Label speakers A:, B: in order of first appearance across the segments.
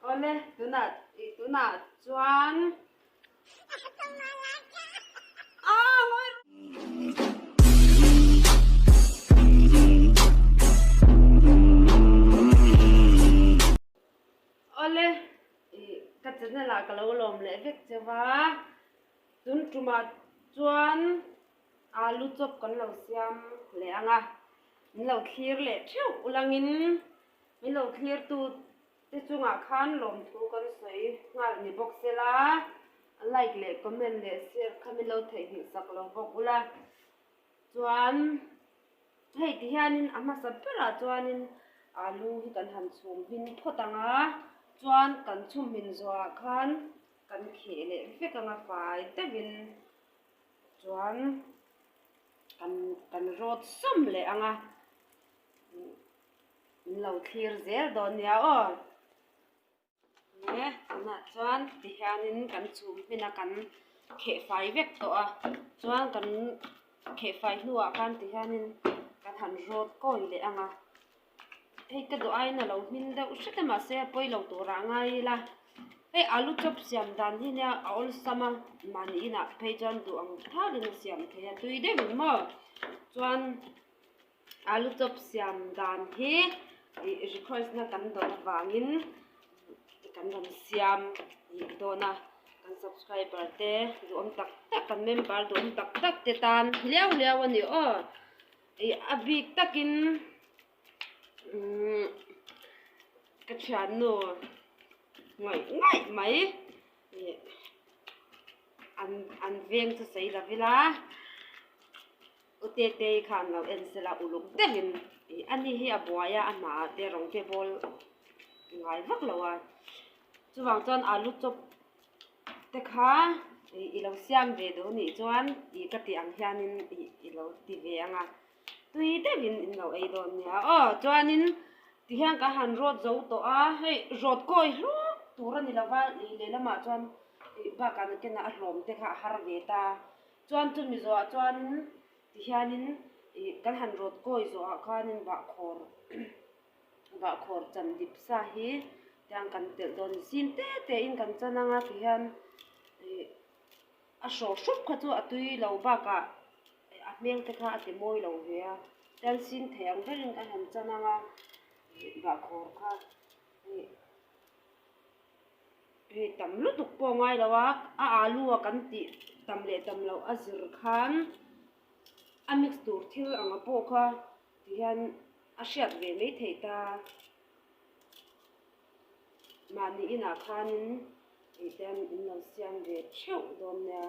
A: Awle tunah tunah chuan Awle ka channel ah ka lo lawm leh vek che va tun tumah chuan alu chop kan lo siam leh anga min lo thlir leh theuh ulangin. Min lo thlirtu te chungah khan lawmthu kan sawi nghal ni bawk se la, like leh comment leh share kha min lo theih nghilh sak lo bawk ula. Chuan hei ti hianin a hmasa berah chuanin aa lu hi kan han chhum hmin phawt ang a, chuan kan chhum hmin zawhah khan kan kheh leh vek ang a fai deuhin chuan kan kan rawt sawm leh ang a. Min lo thlir zel dawn nia aw. Nge tunah chuan tihianin kan chum hmina kan khehfai vek tawh a, chuan kan khehfai hnuah khan tihianin kan han rawt kawi leh ang a. Hei ka duh aiin a lo hming deuh hret a mahse a pawi lo tur ah ngai ila. Hei alu chop siam dan hi nia a awlsam a, mahnihin ah phei chuan duh ang thalin a siam theih a, tui deuhin maw chuan. A lu chawp siam dan hi ih request na kan dawt avangin kan rawn siam ih dawn a kan subscriber te duhawm tak tak kan member duhawm tak tak te tan hliau hliau a ni aw ih a bik takin umm ka thiannu ngawih ngawih mai ih an an veng chu sawi lo ila. U Tetei kha an lo en sel a, uluk deuh in ih a ni hi a buai a, a hna ah te rawng te bawl ngai vak lo a, chuvang chuan alu chop te kha ih i lo siam ve do nih chuan ih ka tih ang hian in ih i lo ti ve ang a, tui deuh in in lo ei dawn nia aw chuan in ti hian ka han rawt zo tawh a, hei rawt kawi hluk tur a ni lo va, ih lehlam ah chuan ih bakah nute nah a hlawm te kha a har ve ta. Chuan chu Mizoah chuan ti hianin i kan han rawt kawi zawhah khanin bahkhawr bahkhawr chan dip sa hi tiang kan telh dawn ni sin te te in kan chan anga ti hian ih a hrawh hrup kha chu a tui lo bakah a hmel te kha a ti mawi lo ve a tian sin thei ang berin ka han chan anga bahkhawr kha ih-- Hei tam lutuk pawh ngai lo a, a alu a kan tih tam leh tam loh a zir khan a mix tur thil ang a pawh kha ti hian a hriat ve mai thei ta. Mahni inah khanin engtiang in lo siam ve theuh dawn nia.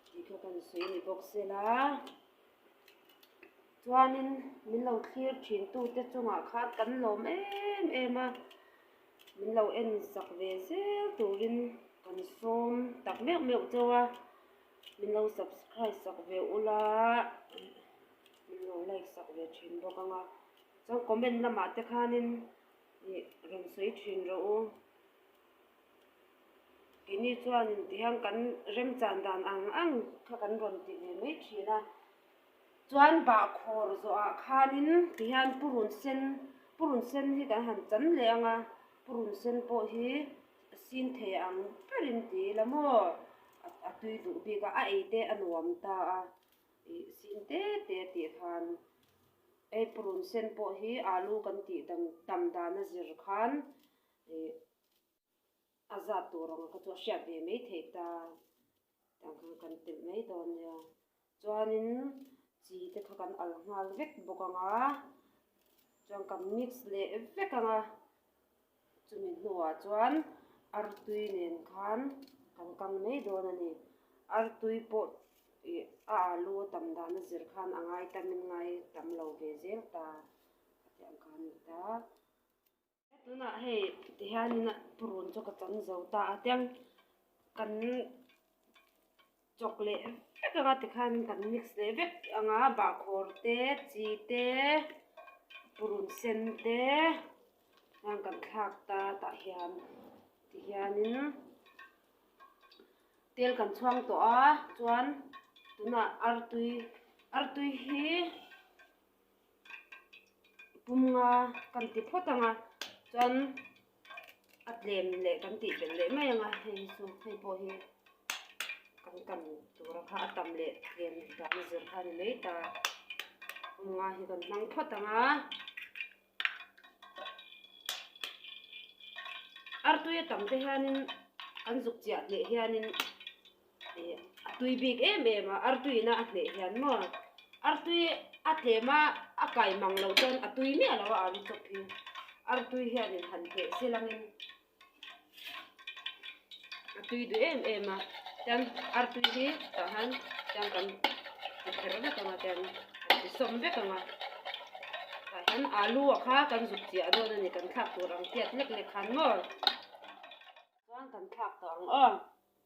A: Tih kha kan sawi a ni bawk sela chuanin min lo thlir thintute chungah khan kan lawm em em a. Min lo en sak ve zel turin kan sawm tak meuh meuh chau a. Min lo subscribe sak ve ula min lo like sak ve thin bawk ang a. Chuan comment lamah te khanin ih rawn sawi thin rawh u. Keini chuan tihian kan remchang dan ang ang kha kan rawn ti ve mai thin a. Chuan bahkhawr zawh ah khanin tihian purun sen purun sen hi kan han chan leh ang a, purun sen pawh hi a sin thei ang ber in ti ila maw a tui duh bik a a ei te a nuam ta a ih sin te te tih khan hei purun sen pawh hi alu kan tih dan tam dan a zir khan. Ih, a zat tur ang kha chu a hriat ve mai theih ta, tiang khan kan telh mai dawn nia. Chuanin chi te kha kan al nghal vek bawk ang a, chuan kan mix leh vek ang a, chumi hnuah chuan artui nen khan kan kang mai dawn a ni. Artui pawh ih a alu a tam dana zir khan a ngai tamin ngai tam lo ve zel ta, a tiang kha a ni ta. Tunah hei tihianin a purun chu ka cham zo ta a tiang kan chawk leh vek anga tikhan kan mix leh vek anga bahkhawr te chi te purun sen te khan kan thlak ta tah hian tihianin tel kan chhuang tawh a chuan tunah artui artui hi-- pum nga kan ti phawt ang a chuan a tlem leh kan tih belh leh mai ang a hei chu hei pawh hi kan kan tura kha a tam leh tlem leh dan a zir kha a ni mai ta pum nga hi kan hmang phawt ang a artoia tam te hianin an zuk chiah leh hianin. A tui bik em em a, ar tui na a hneh hian maw? Ar tui a tlem a, a kai mang loh chuan a tui miah lo a ang hi chawp hi. Ar tui hian in han hneh si lang in a tui duh em em a, chuan ar tui hi tah hian chuan kan ti kher vek ang a chuan kan ti sawm vek ang a. Tah hian alu ah kha kan zuk chiah dawn a ni, kan thlak tur ang chiat lek lek khan maw? Chuan kan thlak tawh ang aw.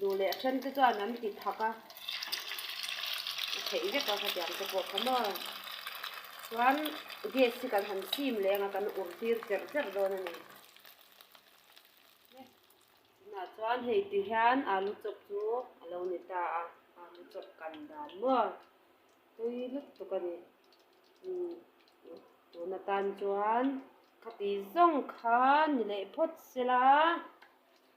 A: Duh leh a ṭhen te chuan an ti thak a, a theih vek a khatiang te pawh kha maw. Chuan gas hi kan han sim leng a, kan ur tir cher cher dawn a ni. Tunah chuan hei ti hian alu chawp chu a lo ni ta a, alu chawp kan dan maw. Tui lutuk a ni. Tun atan chuan khati zawng kha ni leh phawt se la.